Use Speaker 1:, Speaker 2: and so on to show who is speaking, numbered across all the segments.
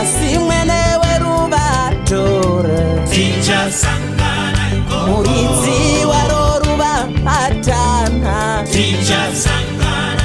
Speaker 1: asi mwene werubato tichasangana
Speaker 2: muridzi
Speaker 1: waro ruva atana tichasangana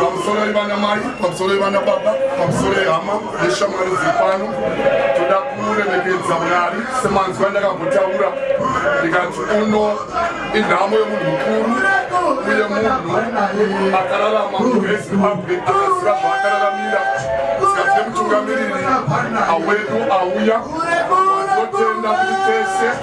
Speaker 3: pamusoro ivana mai pamusoro ivana baba pamusoro ehama neshamwari dziri pano toda kuremekedza mwari semanzwa ndakavotaura ndikati uno inhamo yemunhu mukuru uye munhu akararama muezimbabwe akaziva zvaakararamira zikati nemutungamiriri awedu auya totenda kuti tese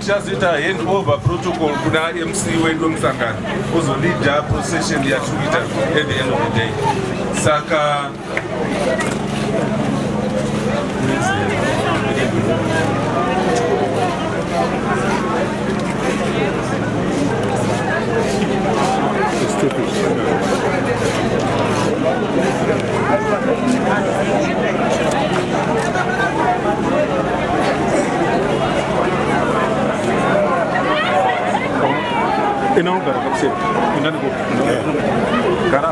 Speaker 4: Tichazoita handover protocol kuna MC wedu wemusangano ozolida procession yatikuita at the end of the day saka
Speaker 5: Inaugara kapse. Inani ko. Gara.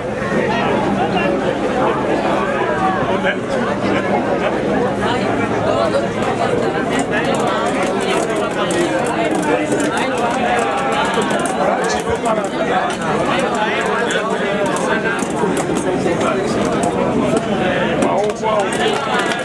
Speaker 5: Wow,
Speaker 4: wow.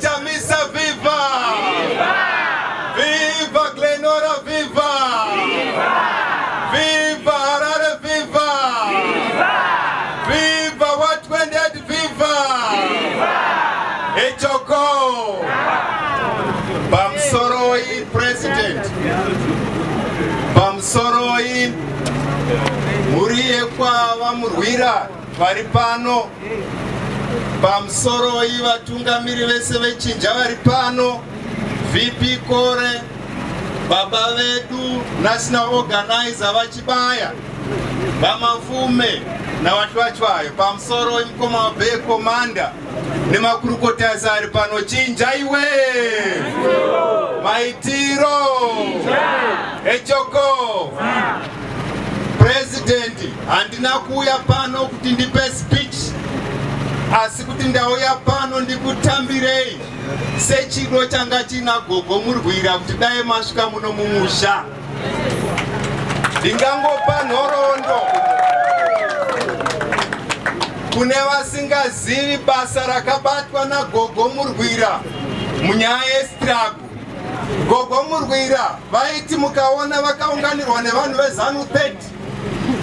Speaker 2: Chamisa viva! Viva Glenora viva! Viva Harare viva! Viva what went dead viva! Echoko! Bamsoroi president! Bamsoroi mhuri yekwava murwira vari pano pamusoroi vatungamiri vese vechinja vari pano vp kore baba vedu national organizer vachibaya vamavume navachwachwayo pamusoroi mukoma wabee komanda nemakurukota ese ari pano chinja iwe maitiro echoko President, handina kuuya pano kuti ndipe speech asi kuti ndauya pano ndikutambirei sechido changa china gogo murwira kuti dai masvika muno mumusha ndingangopa nhoroondo kune vasingazivi basa rakabatwa nagogo murwira munyaya yestrago Gogo Murwira vaiti mukaona vakaunganirwa nevanhu vezanu 30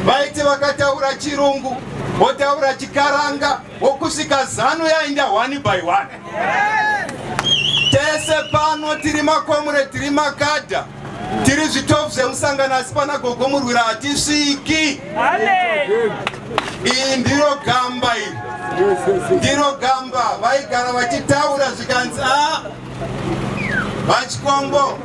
Speaker 2: vaiti vakataura chirungu votaura chikaranga vokusvika zanu yainda one by one tese pano tiri makomure tiri makadha tiri zvitofu zvemusangano asi pana gogo murwira hatisviki iyi ndiro gamba iri ndiro gamba vaigara vachitaura zvikanzi a ah, VaChikombo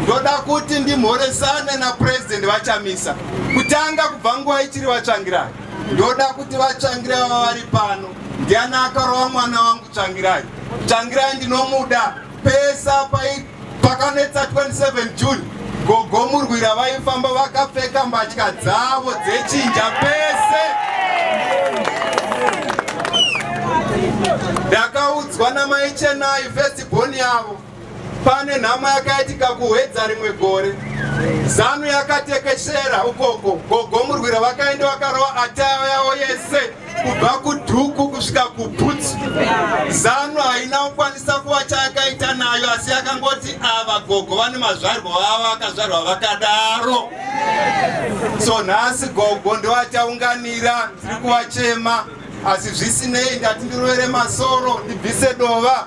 Speaker 2: ndoda kuti ndimhoresane naPresident VaChamisa kutanga kubva nguva ichiri vatsvangirai ndoda kuti vatsvangirai vava vari pano ndiani akarova mwana wangu tsvangirai tsvangirai ndinomuda pesa pakanetsa 27 june Gogo Murwira vaifamba vakapfeka mbatya dzavo dzechinja pese. Ndakaudzwa namai Chenai first born yavo pane nhamo yakaitika kuhwedza rimwe gore zanu yakatekeshera ukoko gogo murwira vakaenda vakarova atayo yavo yese kubva kudhuku kusvika kubhutsu zanu haina kukwanisa kuva chayakaita nayo asi yakangoti ava ah, gogo vane mazvarwa vavo akazvarwa vakadaro so nhasi gogo ndovachaunganira ndiri kuvachema asi zvisinei ndati ndirovere masoro ndibvise dova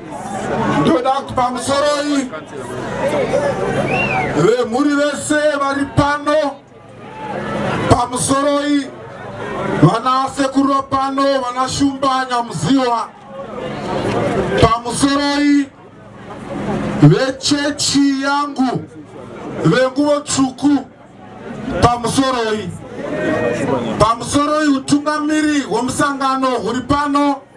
Speaker 6: ndoda kuti pamusoroi vemhuri vese vari pano pamusoroi vana sekuro pano vana shumba nyamuziwa pamusoroi vechechi yangu venguvo tsvuku pamusoroi pamusoroi utungamiri hwemusangano huri pano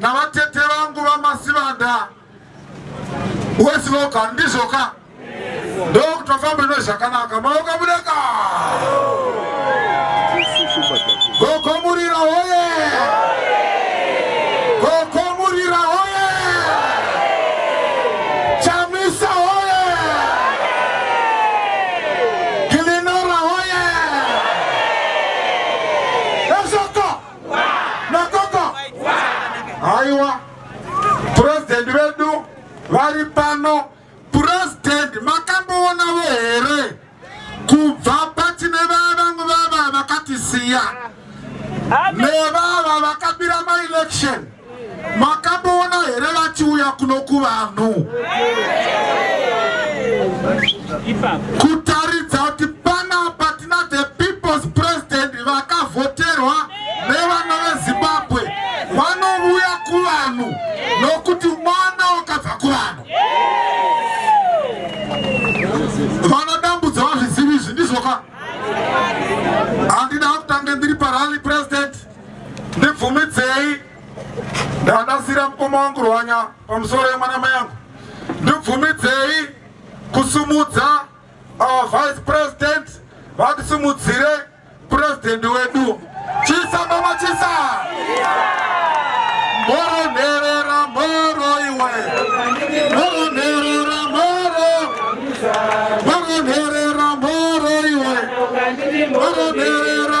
Speaker 6: navatete vangu vamasivanda wesivoga ndizvoka ndokutofamba ino zvakanaka maoka mudeka gokomurira hoye gokomurira hoye chamisa hoye gilinora hoye ezvoko nakoko haiwa purezidhendi vedu vari pano purezidhendi makamboonawo here kubva patine vavamwe vava vakatisiya nevava vakabira maelection Makamboona here vachiuya kuno kuvanhu kutaridza kuti panapa tina the people's president vakavhoterwa nevana vezimbabwe vanovuya kuvanhu nokuti mwana wakabva kuvanhu vanadambudza vazvizivi izvi ndizvoka handina kutange ndiri parally president ndibvumidzei ndandasira mukoma wangu rwanya pamusoro yemwana mai yangu ndibvumidzei kusumudza our vice president vatisimudzire president wedu chisa mama chisa moro nherera moro iwe moro nherera moro moro nherera moro iwe moro nherera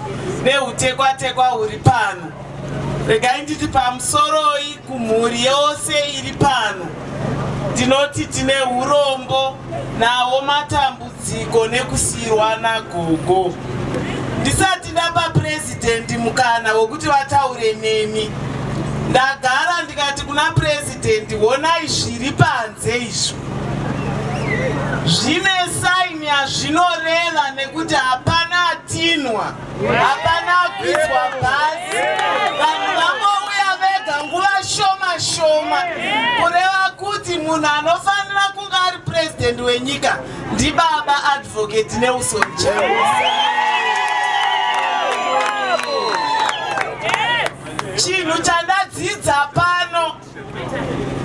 Speaker 1: nehutekwatekwa huri pano regai nditi pamusoroi kumhuri yose iri pano ndinoti tine urombo nawo matambudziko nekusiyirwa nagogo ndisati ndapa purezidhendi mukana wekuti vataure nemi ndagara ndikati kuna purezidhendi Tendi wonai zviri panze izvo zvine saini yazvinoreva nekuti hapana atinwa hapana akwizwa bhazi vanhu vangouya vega nguva shoma shoma kureva kuti munhu anofanira kunge ari purezidendi wenyika ndibaba advocate nelson chaus Chinhu chandadzidza pano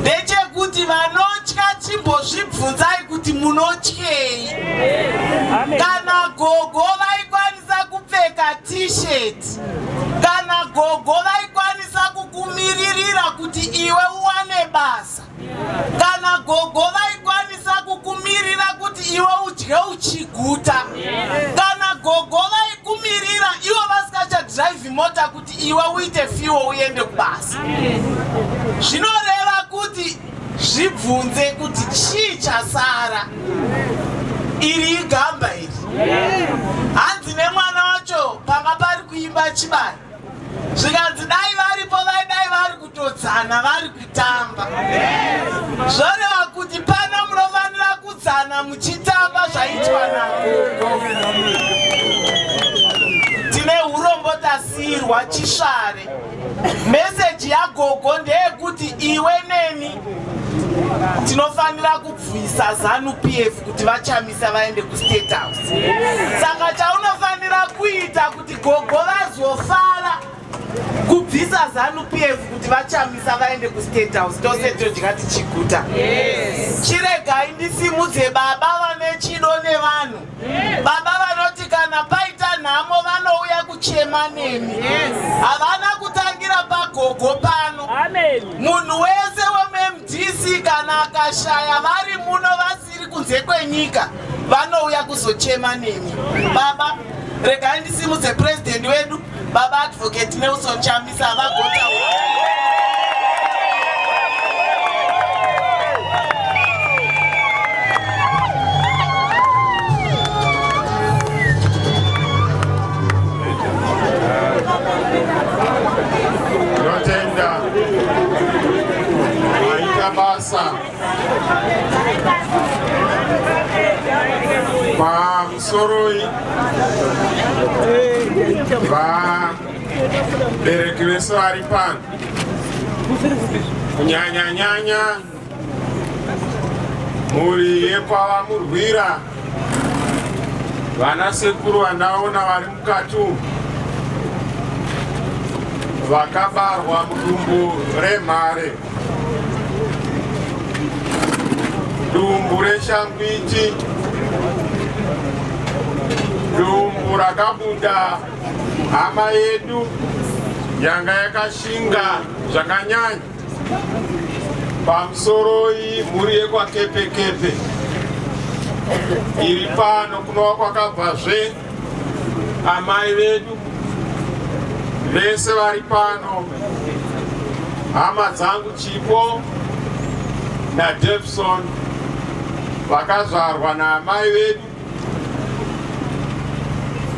Speaker 1: ndechekuti vanotya chimbozvibvunzai kuti munotyei. Kana gogo vaikwanisa kupfeka t-shirt, kana gogo vaikwanisa kukumiririra kuti iwe uwane basa. kana gogo vaikwanisa kukumirira kuti iwe udye uchiguta kana gogo vaikumirira ivo vasikachadhiraivhi mota kuti iwe uite fiwo uende kubasa zvinoreva kuti zvibvunze kuti chii chasara iri igamba iri hanzi nemwana wacho panga pari kuimba chibari zvikanzi dai varipo vaidai vari kutodzana vari kutamba zvoreva kuti pano munofanira kudzana muchitamba zvaitwa nagogo tine urombo tasiyirwa chisvare meseji yagogo ndeyekuti iwe neni tinofanira kubvisa zanu pf kuti vachamisa vaende kustate house saka chaunofanira kuita Gogo vazofara kubvisa zanu PF kuti vachamisa vaende ku state house tose todya tichiguta. Yes. Chiregai ndisimudze baba vane chido nevanhu. Yes. Baba vanoti kana paita nhamo vanouya kuchema nemi. Yes. Havana kutangira pagogo pano. Amen. Munhu wese wemuMDC kana akashaya vari muno vasi iri kunze kwenyika vanouya kuzochema nemi baba regai ndisimudze purezidhendi wedu baba advocate nelson chamisa havagota
Speaker 2: Thank you. pamusoroi vabereki vese vari pano kunyanyanyanya mhuri yekwava murwira vana sekuru vandaona vari mukati umu vakabarwa mudumbu remhare Dumbu reshangwiti, dumbu rakabuda hama yedu yanga yakashinga zvakanyanya pamusoroi mhuri yekwaKepekepe iri pano kunova kwakabvazve amai vedu vese vari pano, hama dzangu Chipo
Speaker 7: naDevson vakazvarwa naamai vedu.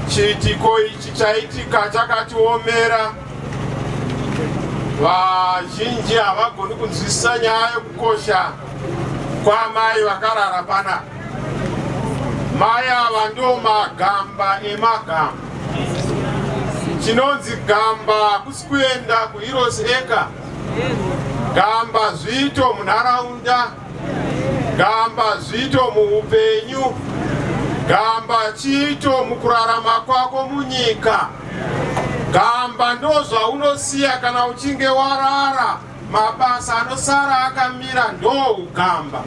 Speaker 7: Chiitiko ichi chaitika chakatiomera. Vazhinji havagoni kunzwisisa nyaya yekukosha Kwamai vakarara pana mai ava ndo magamba emagamba. Chinonzi gamba hakusi kuenda kuHeroes Acre. Gamba zviito munharaunda, gamba zviito muupenyu, gamba chiito mukurarama kwako munyika. Gamba ndozvaunosiya kana uchinge warara. mabasa anosara akamira ndougamba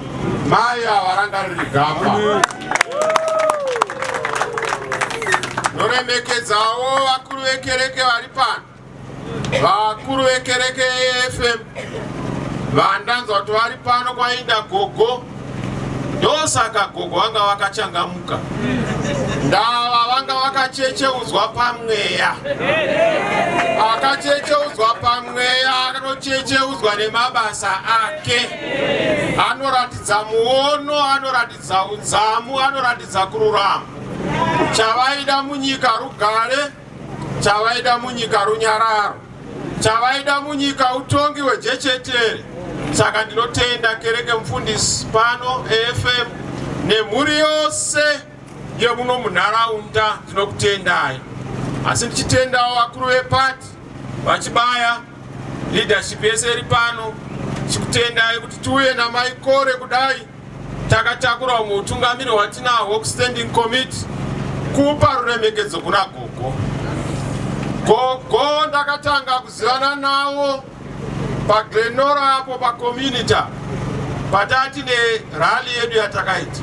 Speaker 7: mai avaranga riri gamba ndoremekedzawo vakuru vekereke vari pano vakuru vekereke efm vandanzwa kuti vari pano kwainda gogo ndosaka gogo vanga vakachangamuka ndava vanga vakachecheudzwa pamweya akachecheudzwa pamweya anochecheudzwa nemabasa ake anoratidza muono anoratidza udzamu anoratidza kururama chavaida munyika rugare chavaida munyika runyararo chavaida munyika utongi hwejechetere saka ndinotenda kereke mufundisi pano efm nemhuri yose yemuno munharaunda ndinokutendai asi ndichitendawo vakuru vepati vachibaya leadership yese iri pano chikutendai kuti tiuye namaikore kudai Takatakura umwe utungamiri hwatinahwo kuStanding Committee kupa ruremekedzo kuna gogo. Gogo ndakatanga kuzivana nawo paGlenora apo pacommunity patati nerally yedu yatakaita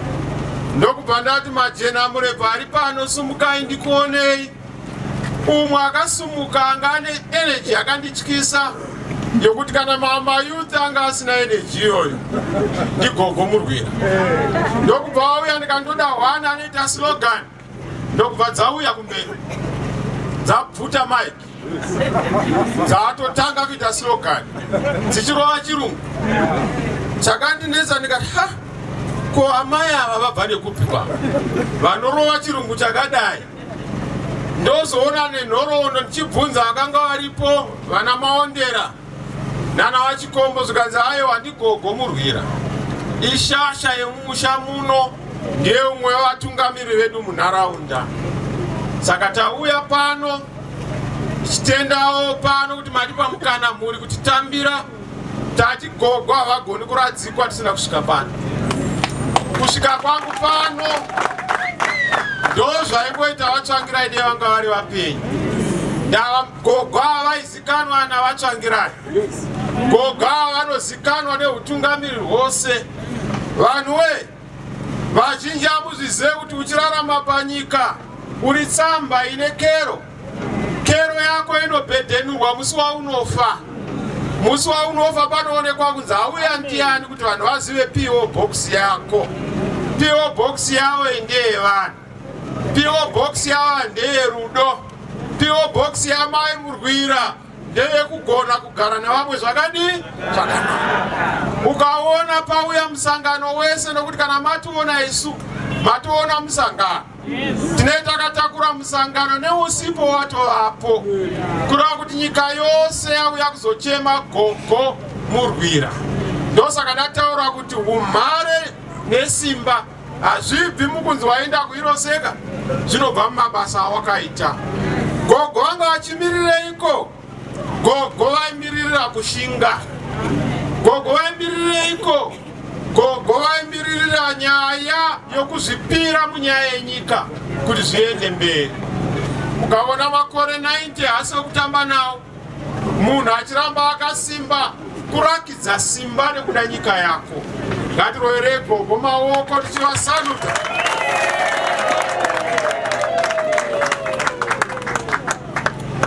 Speaker 7: ndokubva ndati majena murebva ari pano sumukai ndikuonei umwe akasumuka anga ane energy yakandityisa yekuti kana mayouth anga asina energy iyoyo ndigogo murwira ndokubva wauya ndikandoda hwana anoita slogan ndokubva dzauya kumberi dzabvuta mike dzaatotanga kuita slogan dzichirova chirungu chakandinetsa ndikati ha ko amai ava vabva nekupi kwavo vanorova chirungu chakadai ndozoona nenhoroondo ndichibvunza vakanga varipo vana maondera nana vachikombo zvikanzi ayo handigogo murwira ishasha yemumusha muno ndiye umwe wevatungamiri vedu munharaunda saka tauya pano tichitendawo pano kuti matipa mukana mhuri kuti tambira Tati gogo havagoni kuradzikwa tisina kusvika pano. Kusvika kwangu pano ndozvaingoita vatsvangirai dei vanga vari vapenyu. Ndava gogo ava vaizikanwa navatsvangirai. Gogo ava vanozikanwa neutungamiri hwose. Vanhu wee vazhinji amuzvizive kuti uchirarama panyika uri tsamba ine kero. Kero yako inobhedhenurwa musi waunofa. Musi waunofa panoonekwa kunzi hauya ndiyani kuti vanhu vazive PO box yako. PO box yavo ndeye vanhu. PO box yavo ndeye rudo. PO box yamai Murwira ndeye kugona kugara nevamwe zvakadii zvakanaka ukaona pauya musangano wese nokuti kana mationa isu mationa musangano Tinee takatakura musangano neusipo watovapo kureva kuti nyika yose yauya kuzochema gogo murwira ndosaka ndataura kuti umhare nesimba hazvibvi mukunzi waenda kuiroseka zvinobva mumabasa awakaita gogo vanga vachimirireiko Gogo vaimiririra kushinga. Gogo vaimirireiko? Gogo vaimiririra nyaya yokuzvipira munyaya yenyika kuti zviende mberi. Ukaona makore 90 haasi okutamba nawo, munhu achiramba akasimba kurakidza simba nekuda nyika yako. Ngatiroverei gogo maoko tichivasaluta.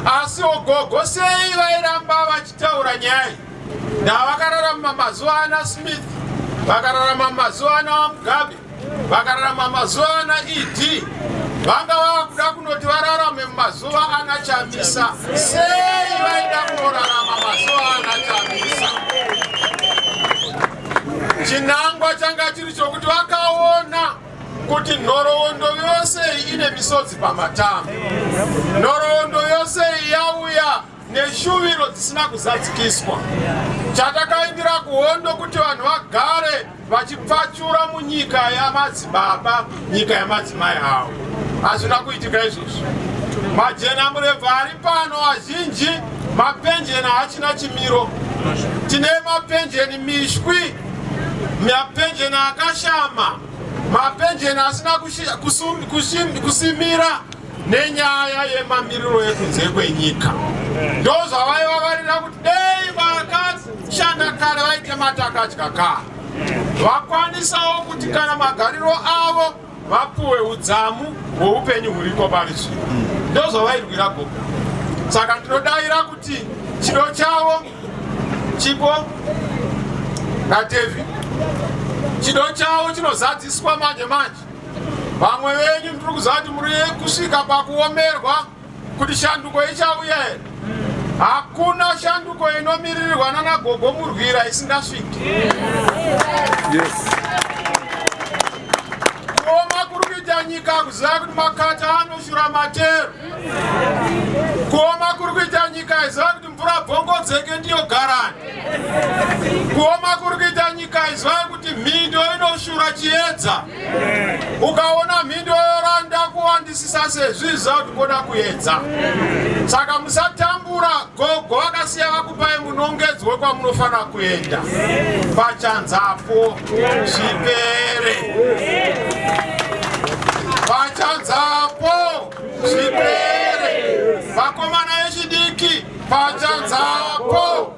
Speaker 7: Asi ogogo sei vairamba vachitaura nyaya ndavakararama mazuva ana Smith vakararama mazuva ana Mugabe vakararama mazuva ana ED vanga vava kuda kunoti vararame mazuva ana Chamisa sei vaida kunorarama mazuva ana Chamisa chinangwa changa chiri chokuti vakaona kuti nhoroondo yose iyi ine misodzi pamatama nhoroondo yose iyi yauya neshuviro dzisina kuzadzikiswa chatakaindira kuhondo kuti vanhu vagare vachipfachura munyika yamadzibaba nyika yamadzimai avo hazvina kuitika izvozvo majena murevhu ari pano azhinji mapenjeni haachina chimiro tine mapenjeni mishwi mapenjeni akashama, mapenjeni asina kusimira nenyaya yemamiriro ekunze kwenyika. Ndozvavaivavarira kuti dei vakashanda kare vaite matakadya kare vakwanisawo kuti kana magariro avo vapuwe udzamu hweupenyu huriko pari zvino ndozvavairwira gogo saka ndinodaira kuti chido chavo chipo nadevi chido chavo chinozadziswa manje manje vamwe venyu ndiri kuziva kuti muri kusvika pakuomerwa kuti shanduko ichauya here hakuna shanduko inomiririrwa nana gogo murwira isingasviki kuoma kuri kuita nyika kuziva kuti makata anoshura matero kuoma kuri kuita nyika iziva kuti mvura bvongodzeke ndiyo garani kuoma kuri kuita nyika iziva kuti mhindo inoshura chiedza ukaona mhindi yoyoranda kuwandisisa sezviza kuti koda kuedza saka musatambura gogo vakasiya vakupai munongedzwe kwamunofanira kuenda pachanzapo zvipere pachanzapo zvipere vakomana vechidiki pachanzapo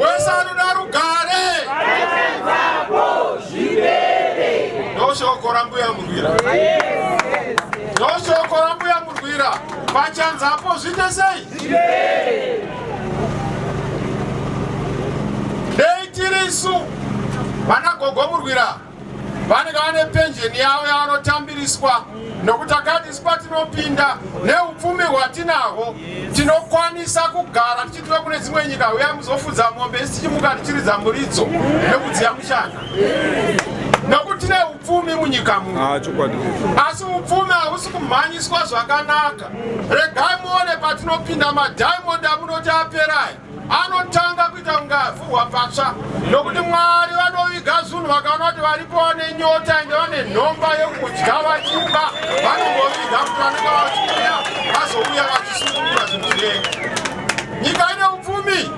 Speaker 7: wese anoda rugare ndoshoko rambuya murwira ndoshoko rambuya murwira pachanzapo zviite sei dei tirisu vana gogo murwira vanenge vane penjeni yavo yavanotambiriswa nokuti akadisi patinopinda neupfumi hwatinahwo tinokwanisa kugara tichitira kune dzimwe nyika uya muzofudza mombe isi tichimuka tichiridza muridzo nekudziya mushana nokuti tine upfumi munyika muno ah, asi upfumi hausi kumhanyiswa zvakanaka regai muone patinopinda madiamond amunoti aperai anotanga kuita kunge avhurwa patsva nokuti mwari vanoviga zunhu vakaona kuti varipo vane nyota ende vane nhomba yokudya vachiba vanongoviga kuti vanenge vachiuya vazouya vachisungurura zvinhu zvirenga nyika ine upfumi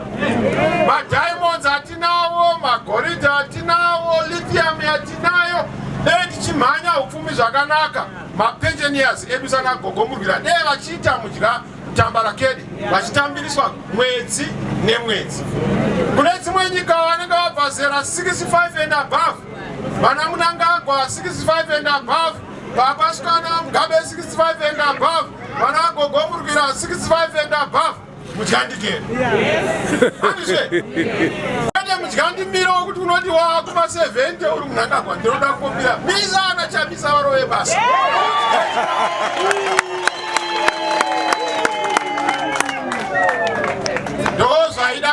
Speaker 7: madiamonds atinawo magoridhe atinawo lithium yatinayo dei tichimhanya upfumi zvakanaka mapensioners edu sanagogomurwira dei vachiita mudya Tambarakede vachitambiriswa mwedzi nemwedzi. Kune dzimwe nyika vanenge vabva zera 65 and above, vana Munangagwa 65 and above, vapasikana Mugabe 65 and above, vana Gogo Murwira 65 and above. Mudyandikere. Andizve. Kwete mudyandimiro wekuti unoti wakuma 70 uri Munangagwa ndinoda kukumbira. Misa ana chamisa varove basa.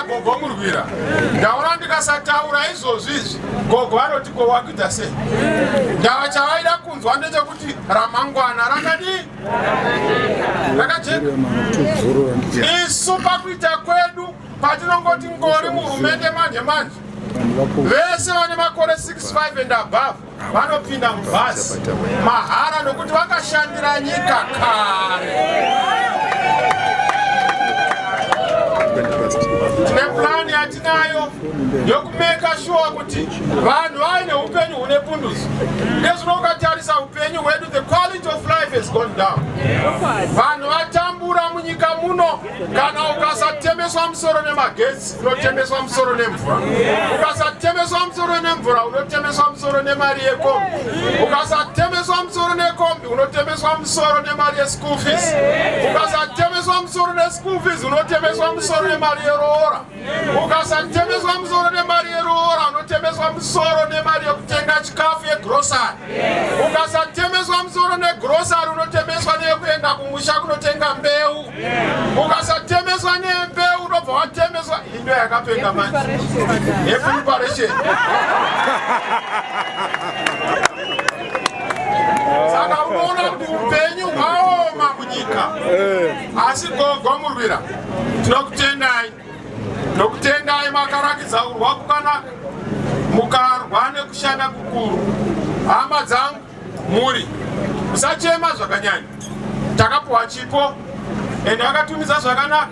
Speaker 7: kugomurwira ndaona ndikasataura izvozvi izvi gogo vanoti ko wakuita sei ndava chavaida kunzwa ndechekuti ramangwana rakadii rakajeka isu pakuita kwedu patinongoti ngori muhurumende manje manje vese vane makore 65 and above vanopinda mubhazi mahara nokuti vakashandira nyika kare tine plani yatinayo yokumeka shuwa kuti vanhu vaine upenyu hune pundutso nezvino ukatarisa upenyu hwedu the quality of life has gone down vanhu vatambura munyika muno kana ukasatemeswa musoro nemagetsi unotemeswa musoro nemvura ukasatemeswa musoro nemvura unotemeswa musoro nemari yekombi ukasatemeswa musoro nekombi unotemeswa musoro nemari yeschool fees ukasatemeswa musoro neschool fees unotemeswa musoro nemari yeroora ukasatemeswa musoro nemari yeroora unotemeswa musoro nemari yekutenga chikafu yegrosari ukasatemeswa musoro negrosari unotemeswa neyekuenda kumusha kunotenga mbeu ukasatemeswa nembe unobva watemeswa indo yakapenga manje epreparation saka unoona kuti upenyu hwaoma munyika eh. asi gogo murwira tinokutendai ndokutendai makarakidza kurwa kukanaka mukarwa nekushanda kukuru hama dzangu Mhuri musachema zvakanyanya, takapuwa chipo ende akatumidza zvakanaka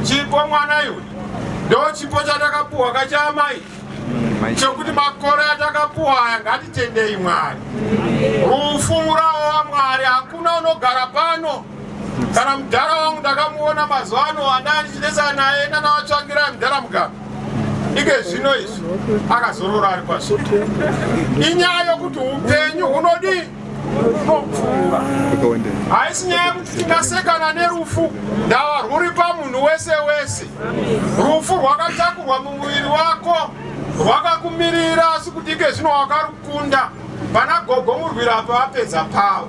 Speaker 7: chipo mwana iwe ndo chipo chatakapuwa kachaamai chokuti makore atakapuwa aya ngatitendei mwari rufu murawo wamwari hakuna unogara pano kana mudhara wangu ndakamuona mazuva ano andaa ndichinetsana naye nanavatsvangirai mudhara mugaro ike zvino izvi akazorora ari kwazvo inyaya yokuti upenyu hunodii unopfuura haisi nyaya yekuti tingasekana nerufu ndava rwuri pamunhu wese wese rufu rwakatakurwa mumuviri wako rwakakumirira asi kuti ike zvino wakarukunda pana gogo murwira apa vapedza pavo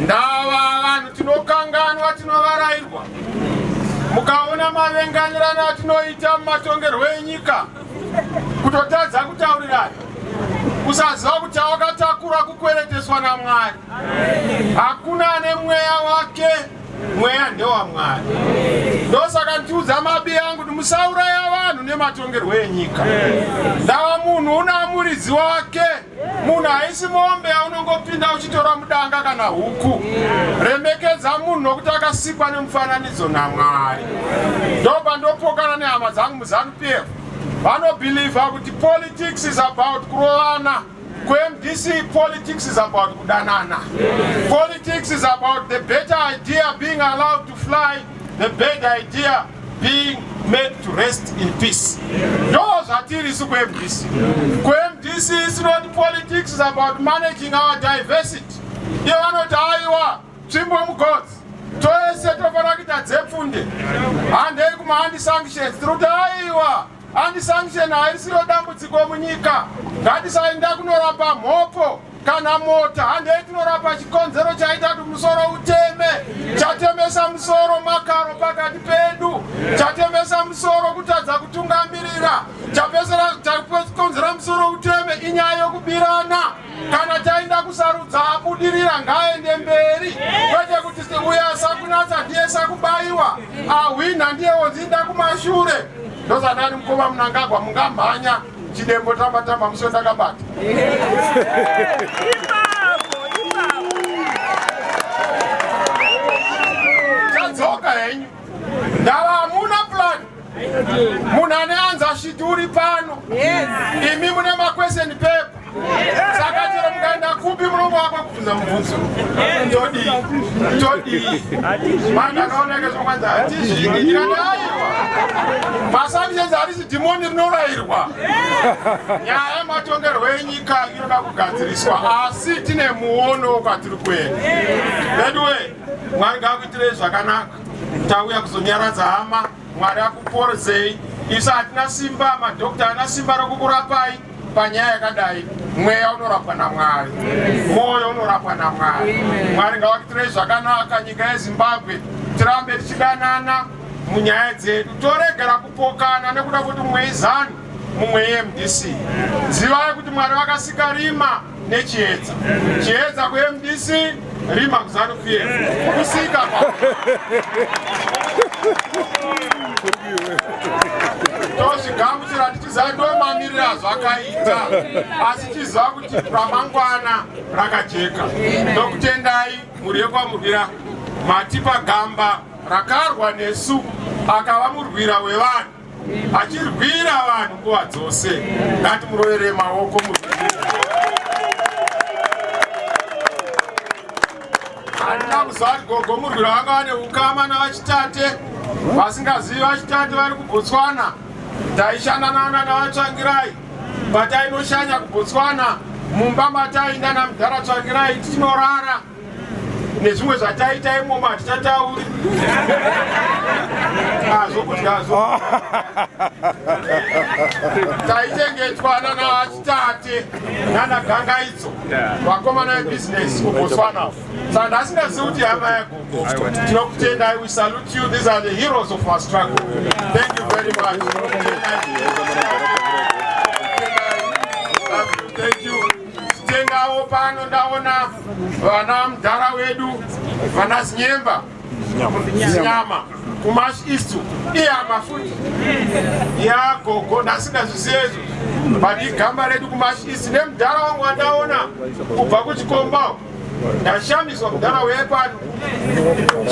Speaker 7: Ndava vanhu tinokanganwa, tinovarairwa. Mukaona mavenganirana atinoita mumatongerwo enyika, kutotadza kutaurirana, kusaziva kuti awakatakura kukwereteswa naMwari. Hakuna ane mweya wake, mweya ndewaMwari. Ndosaka ndichiudza mabi angu kuti musauraya vanhu nematongerwo enyika. Ndava munhu una muridzi wake. munhu haisi mombe yaunongopinda uchitora mudanga kana huku remekedza munhu nokuti akasikwa nemufananidzo namwari ndobva ndopokana nehama dzangu muzanu p f vanobhilivha kuti politics is about kurovana kuMDC politics is about kudanana politics is about the better idea being allowed to fly the bad idea being made to rest in peace ndo zvatiri isu kumdc kumdc is not politics is about managing our diversity iye vanoti aiwa tsvimbo mugodzi toese tofanira kuita dzepfunde handei kumaandisanctions tiri kuti aiwa Anti sanction haisiro dambudziko munyika. Ngatisaenda kunorapa mhopo kana mota handei tinorapa chikonzero chaita kuti musoro uteme chatemesa musoro makaro pakati pedu chatemesa musoro kutadza kutungamirira chakonzera musoro uteme inyaya yokubirana kana taenda kusarudza abudirira ngaende mberi kwete kuti uya asakunatsa ndiye sakubaiwa ahwinha ndiye wodzinda kumashure ndozadani mukoma munangagwa mungamhanya chidembo tamba tamba musio ndakabata Munhu ane anza shiti uri pano. Yes. Imi mune ma question paper. Yes. Saka chero mukaenda kupi munomo wako kubvunza mubvunzo. Yes. Todi. Todi. Manda kaona ke zvokwanza hatizvi. Ndikati aiwa. Masami yenza hari zidhimoni rinorairwa. Nyaya matongerwo enyika inoda kugadziriswa asi tine muono kwatiri kuenda. Veduwe, Mwari ngakuitirei zvakanaka. Tauya kuzonyaradza hama, Mwari akuporzei. Isu hatina simba, madhokta haana simba rokukurapai panyaya yakadai. Mweya unorapwa naMwari, mwoyo unorapwa naMwari. Mwari ngavakutirei zvakanaka nyika yeZimbabwe, tirambe tichidanana munyaya dzedu, toregera kupokana nekuda kuti mumwe izanu mumwe yemdc. Zivai kuti Mwari vakasika rima. nechiedza chiedza kuMDC rima kuzanu pf kusika tozvigamuchira tichiziva ndomamiriro azvakaita asi tichiziva kuti ramangwana rakajeka ndokutendai mhuri yekwamurwira matipa gamba rakarwa nesu akava murwira wevanhu achirwira vanhu nguva dzose ngati murovere maoko handina kuzati gogo murwira vanga vane ukama navachitate vasingazivi vachitate vari kubotswana taishanda nana navatsvangirai patainoshanya kubotswana mumba matainda namudhara tsvangirai tichinorara nezvimwe zvataita imomo hatichatauri azvokudyazo ah, taichengetwa nana chitate nana gangaidzo vakomana vebhizinesi kubotswana sandi asingazivi kuti hama yagogo tinokutendai we salute you these are the heroes of our struggle thank you very much thank you Tengawo pano ndaona vana mdhara wedu vana Zinyemba Zinyama kumash east iyama futi yagogo ndasingazvizive izvo but igamba redu kumash east nemdhara wangu wandaona kubva kuchikomba ndashamiswa mudhara wepano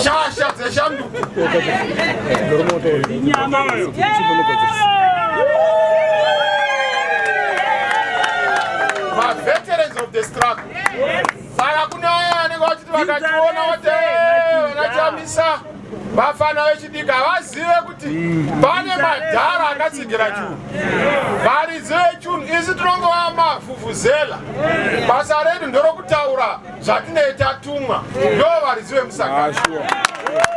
Speaker 7: shasha dzeshanduko maveterans of the struggle saka kune aya anenge vachiti vakationa vati vanachamisa vafana vechidiki havazive kuti pane madhara akatsigira chunhu varidzi vechunhu isi tinongova mafufuzela basa redu ndorokutaura zvatinei tatumwa ndo varidzi vemusangano ah,